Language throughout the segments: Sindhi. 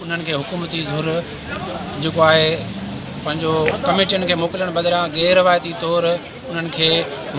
انهن کي حڪومتي ڌر جيڪو آهي پنهنجو ڪميٽين کي موڪلڻ بدران غير روايتي طور انهن کي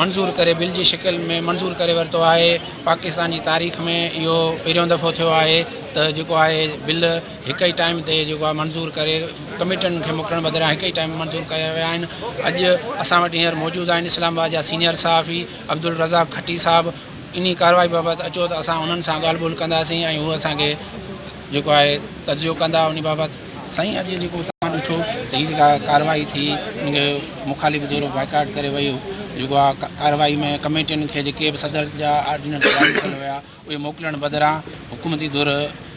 منظور ڪري بل جي شڪل ۾ منظور ڪري ورتو آهي پاڪستان جي تاريخ ۾ اهو پهريون دفعو ٿيو آهي ته جيڪو آهي بل هڪ ئي ٽائيم تي جيڪو آهي منظور ڪري ڪميٽين کي موڪلڻ بدران هڪ ئي ٽائيم منظور ڪيا ويا آهن اڄ اسان وٽ هينئر موجود آهن اسلام آباد جا سينيئر صحافي عبدالرزاق کٽي صاحب انهي ڪارروائي بابت اچو ته اسان انهن سان ڳالهه ٻولهه ڪنداسين ۽ هو اسان کي جيڪو آهي تجزيو ڪندا انهي بابت سائين اڄ جيڪو توهان ڏٺو ته هي جيڪا ڪارروائي ٿي ان کي مخالف ڌر بائيڪاٽ ڪري ويو جيڪو آ ڪارروائي ۾ ڪميٽين کي جيڪي به صدر جا آرڊيننس جاري ڪيل هيا اهي موڪلڻ بدران حڪومتي ڌر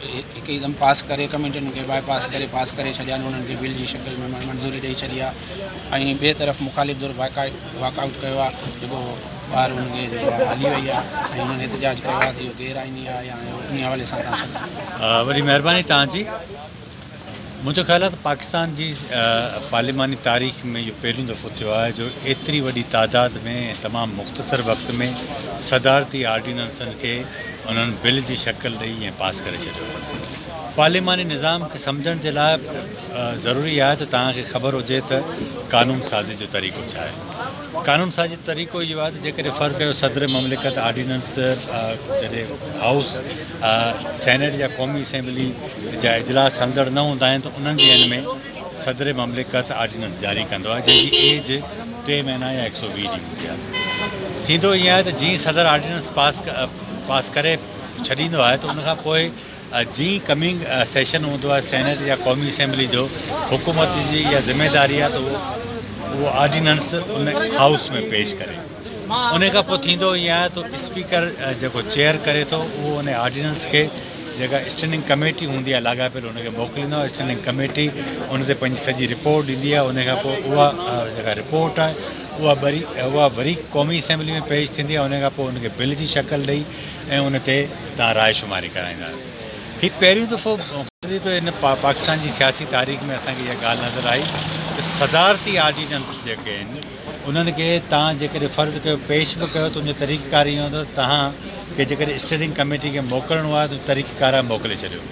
هڪدم پاس ڪري ڪميٽين کي باء پاس ڪري پاس ڪري ڇڏيا انهن کي بل جي شڪل ۾ منظوري ڏئي ڇڏي آ ۽ ٻي طرف مخالف ڌر بائيڪاٽ واڪ آئوٽ ڪيو آهي جيڪو ٻاهر هن کي جيڪو آهي هلي وئي آهي ۽ هنن احتجاج ڪيو آهي ته اهو غير آئيني آهي يا انهي حوالي سان تان سان. وڏي مهرباني توهان جي. منهنجو خيال آهي ته پاڪستان جي پارلياماني تاريخ ۾ اهو پهريون دفعو ٿيو آهي جو ايتري وڏي تعداد ۾ ۽ تمام مختصر وقت ۾ صدارتي آرڊيننسن کي انهن بل جي شڪل ڏئي ۽ پاس ڪري ڇڏيو آهي پارلياماني نظام کي سمجهڻ جي لاء ضروري آهي ته توهان کي خبر هجي ته قانون سازي جو طريقو ڇا آهي. قانون سازي جو طريقو اهو آهي ته جيڪڏهن فرض ڪيو صدر مملڪت آرڊيننس جڏهن هائوس، سينيٽ يا قومي اسيمبلي جا اجلاس هلندڙ نه هوندا آهن ته انهن ڏينهن ۾ صدر مملڪت آرڊيننس جاري ڪندو آهي جنهن جي ايج ٽي مهينا يا هڪ سؤ ويهه ڏينهن هوندي آهي. ٿيندو ائين آهي ته جيئن ئي صدر آرڊيننس پاس ڪري ڇڏيندو آهي ته ان کان پوء جيئن ڪمنگ سيشن هوندو آهي سينيٽ يا قومي اسيمبلي جو، حڪومت جي اها ذميداري آهي ته اهو آرڊيننس ان هائوس ۾ پيش ڪري. ان کان پوء ٿيندو ائين آهي ته اسپيڪر جيڪو چيئر ڪري ٿو اهو ان آرڊيننس کي جيڪا اسٽينڊنگ ڪميٽي هوندي آهي لاڳاپيل ان کي موڪليندو آهي اسٽينڊنگ ڪميٽي ان تي پنهنجي سڄي رپورٽ ڏيندي آهي ان کان پوء اها جيڪا رپورٽ آهي اها وري قومي اسيمبلي ۾ پيش ٿيندي آهي ان کان پوء ان کي بل جي شڪل ڏئي ۽ ان تي تان راء شماري ڪرائيندا آهيو. هي پهريون دفعو گذري ٿو ان پاڪستان جي سياسي تاريخ ۾ اسان کي اها ڳالهه نظر آئي ته صدارتي آرڊيننس جيڪي آهن انهن کي تان جيڪڏهن فرض ڪيو پيش به ڪيو ته ان جو طريقه ڪار ايئن هوندو ته تان کي جيڪڏهن اسٽيئرنگ ڪميٽي کي موڪلڻو آهي ته طريقه ڪار آهي موڪلي ڇڏيو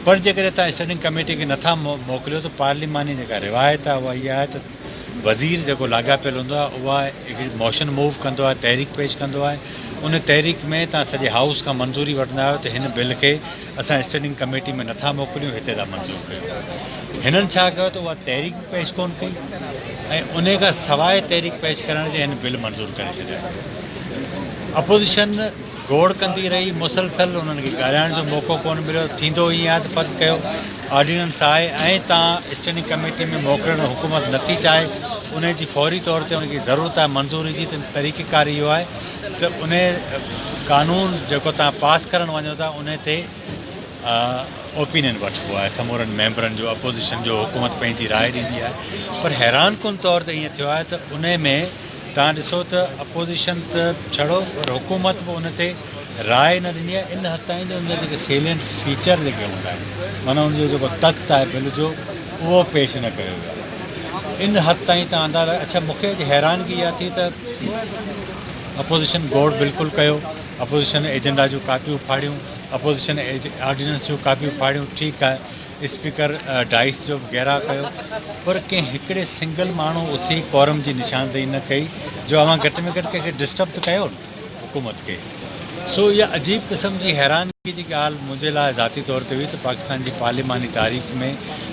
پر جيڪڏهن تان اسٽيئرنگ ڪميٽي کي نٿا موڪليو ته پارليماني جيڪا روايت آهي اها اها آهي ته وزير جيڪو لاڳاپيل هوندو آهي اها هڪڙي موشن موو ڪندو آهي تحريڪ پيش ڪندو آهي ان تحريڪ ۾ تان سڄي هائوس کان منظوري وٺندا آهيو ته هن بل کي اسان اسٽينڊنگ ڪميٽي ۾ نٿا موڪليون هتي ٿا منظور ڪيون هنن ڇا ڪيو ته اها تحريڪ به پيش ڪون ڪئي ۽ ان کان سواء تحريڪ پيش ڪرڻ جي هن بل منظور ڪري ڇڏيا اپوزيشن گوڙ ڪندي رهي، مسلسل انهن کي ڳالهائڻ جو موقعو ڪونه مليو، ٿيندو ائين آهي ته فرض ڪيو آرڊيننس آهي ۽ تان اسٽينڊنگ ڪميٽي ۾ موڪلڻ حڪومت نه ٿي چاهي انهي جي فوري طور تي انهن کي ضرورت آهي منظوري جي ته طريقه ڪار اهو آهي ته انهي قانون جيڪو تان پاس ڪرڻ وڃو ٿا انهي تي اوپينين وٺبو آهي سمورن ميمبرن جو اپوزيشن جو حڪومت پنهنجي راء ڏيندي آهي پر حيران ڪن طور تي ائين ٿيو آهي ته انهي ۾ توهان ڏسو ته اپوزيشن ته ڇڙو پر حڪومت به ان تي راء نه ڏني آهي ان حد تائين جو ان جا جيڪي سيلينٽ فيچر جيڪي هوندا آهن معنيٰ ان جو جيڪو تت آهي بل جو اهو پيش نه ڪيو ويو آهي ان حد تائين توهان اندازا لڳايو اڇا مون کي اڄ حيرانگي اها ٿي ته اپوزيشن گوڙ بلڪل ڪيو اپوزيشن ايجنڊا جون ڪاپيون ڦاڙيون اپوزيشن آرڊيننس جون ڪاپيون ڦاڙيون ٺيڪ آهي اسپيڪر ڊائس جو به گهيراء ڪيو پر ڪنهن هڪڙي سنگل ماڻهو اٿي ڪورم جي نشاندهي نه ڪئي جو اوهان گهٽ ۾ گهٽ ڪنهن کي ڊسٽرب ته ڪيو نه حڪومت کي سو اها عجيب قسم جي حيرانگي جي ڳالهه منهنجي لاء ذاتي طور تي هئي ته پاڪستان جي پارليماني تاريخ ۾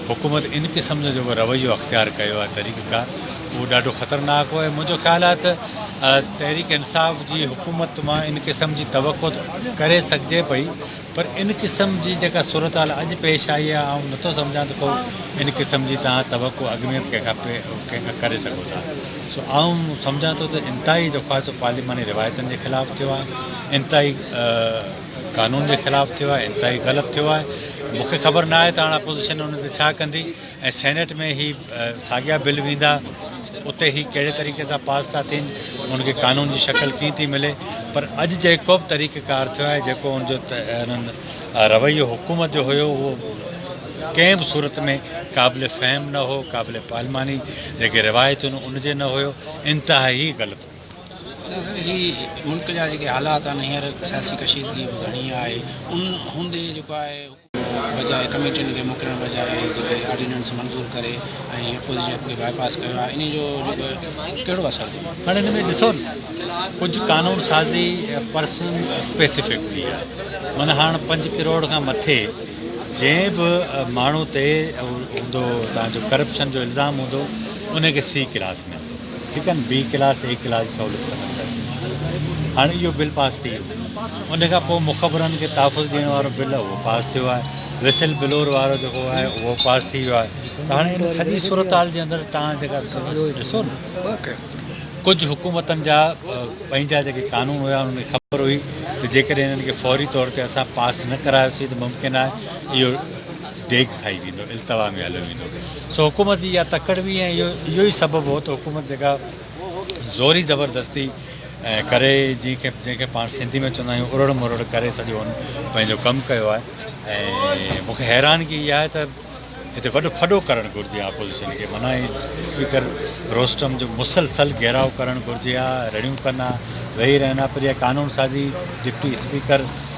حڪومت ان قسم جو جيڪو رويو اختيار ڪيو آهي طريقه ڪار اهو ڏاڍو خطرناڪ هو ۽ منهنجو خيال آهي ته تحريڪ انصاف جي حڪومت مان ان قسم جي توقع ڪري سگهجي پئي پر ان قسم جي جيڪا صورتحال اڄ پيش آئي آهي، آئون نٿو سمجهان ته ڪو ان قسم جي توهان توقع اڳ ۾ به ڪنهن کان ڪري سگهو ٿا. سو آئون سمجهان ٿو ته انتهائي جو خواصو پارلياماني روايتن جي خلاف ٿيو آهي، انتهائي قانون جي خلاف ٿيو آهي، انتهائي غلط ٿيو آهي. مون کي خبر نه آهي ته هاڻ اپوزيشن ان تي ڇا ڪندي. ۽ سينيٽ ۾ هي ساڳيا بل ويندا اتي هي ڪهڙي طريقي سان پاس ٿا ٿين ان کي قانون جي شڪل ڪيئن ٿي ملي پر اڄ جيڪو به طريقه ڪار ٿيو آهي جيڪو ان جو انهن رويو حڪومت جو هيو اهو ڪنهن به صورت ۾ قابل فهم نه هو قابل پارلماني جيڪي روايتون ان جي نه هيو انتهائي غلط ناصر هي ملڪ جا جيڪي حالات آهن هينئر سياسي ڪشيدگي به گهڻي آهي ان هوندي جيڪو آهي بجاء ڪميٽين کي موڪلڻ بجاء جيڪي آرڊيننس منظور ڪري ۽ اپوزيشن کي باء پاس ڪيو آهي انهي جو جيڪو ڪهڙو اثر ٿيو هاڻي ان ۾ ڏسو ڪجهه قانون سازي پرسن اسپيسفڪ ٿي آهي معنيٰ هاڻ پنج ڪروڙ کان مٿي جنهن به ماڻهو تي هوندو تان جو ڪرپشن جو الزام هوندو ان کي سي ڪلاس هڪن بي ڪلاس اي ڪلاس جي سهوليت ختم ڪري ڇڏي هاڻي اهو بل پاس ٿي ويو ان کان پوء مخبرن کي تحفظ ڏيڻ وارو بل اهو پاس ٿيو آهي وسل بلور وارو جيڪو آهي اهو پاس ٿي ويو آهي ته هاڻي ان سڄي صورتحال جي اندر تان جيڪا ڏسو نه ڪجهه حڪومتن جا پنهنجا جيڪي قانون هيا انهن کي خبر هئي ته جيڪڏهن انهن کي فوري طور تي اسان پاس نه ڪرايوسين ته ممڪن آهي اهو ڊيگهه کائي ويندو، التوا ۾ هليو ويندو. سو حڪومت جي اها تڪڙ هئي ۽ اهو ئي سبب هو ته حڪومت جيڪا زوري زبردستي ڪري جنهن کي جنهن کي پاڻ سنڌي ۾ چوندا آهيون اڙڙ مرڙ ڪري سڄو هن پنهنجو ڪم ڪيو آهي ۽ مون کي حيرانگي اها آهي ته هتي وڏو ڦڏو ڪرڻ گهرجي ها اپوزيشن کي منان هي اسپيڪر روسٽم جو مسلسل گهيراو ڪرڻ گهرجي ها رڙيون ڪن ها ويهي رهن ها پر اها قانون سازي ڊپٽي اسپيڪر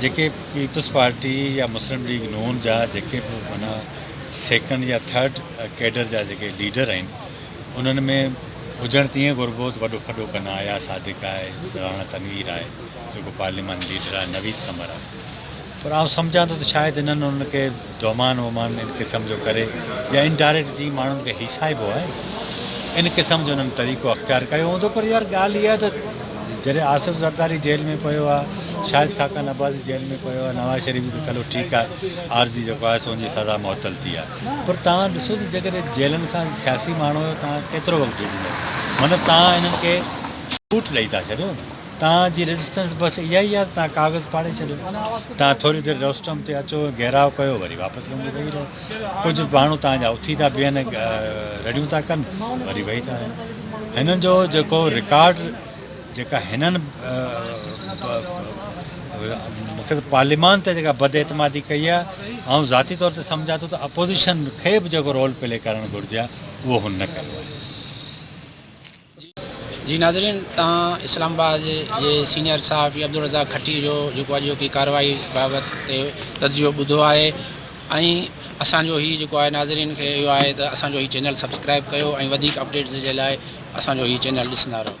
جيڪي پيپلز پارٽي يا مسلم ليگ نون جا جيڪي به معنيٰ سيڪنڊ يا ٿرڊ ڪيڊر جا جيڪي ليڊر آهن انهن ۾ هجڻ ته ائين گهربو ته وڏو ڦڏو ڪن آيا صادق آهي راڻا تنوير آهي جيڪو پارليمان ليڊر آهي نويد قمر آهي پر آئون سمجهان ٿو ته شايد انهن انهن کي دومان وومان ان قسم جو ڪري يا ان ڊائريڪٽ جي ماڻهن کي هيسائبو آهي ان قسم جو انهن طريقو اختيار ڪيو هوندو پر يار ڳالهه اها ته جڏهن آصف زرداري جيل ۾ پيو آ شاهد خاقان عباسي جيل ۾ پيو آ نواز شريف به ته کلو ٺيڪ آ عارضي جيڪو آهي سو ان جي سزا معطل ٿي آ پر توهان ڏسو ته جيڪڏهن جيلن کان سياسي ماڻهو توهان کي ڪيترو وقت ڊڄندو مطلب توهان انهن کي ڇوٽ ڏئي ٿا ڇڏيو نه توهان جي ريزسٽنس بس اها ئي آهي ته توهان ڪاغذ ڦاڙي ڇڏيو. توهان ٿوري دير روسٽم تي اچو، گهيراء ڪيو، وري واپس وڃي ويهي رهو. ڪجهه ماڻهو توهان جا اٿي ٿا بيهن، رڙيون ٿا ڪن، وري ويهي ٿا رهن. هنن جو جيڪو رڪارڊ، جيڪا هنن مون کي ته پارليمان تي جيڪا بداعتمادي ڪئي آهي، آئون ذاتي طور تي سمجهان ٿو ته اپوزيشن کي به جيڪو رول پلي ڪرڻ گهرجي ها، اهو هن نه ڪيو آهي. جي ناظرين توهان اسلام آباد جي سينئر صحافي عبدالرزاق کٽي جو جيڪو اڄوڪي ڪارروائي بابت تي تجزيو ٻڌو آهي ۽ اسان جو هي جيڪو آهي ناظرين کي اهو آهي ته اسان جو هي چينل سبسڪرائب ڪيو ۽ وڌيڪ اپڊيٽس جي لاء اسان جو هي چينل ڏسندا رهو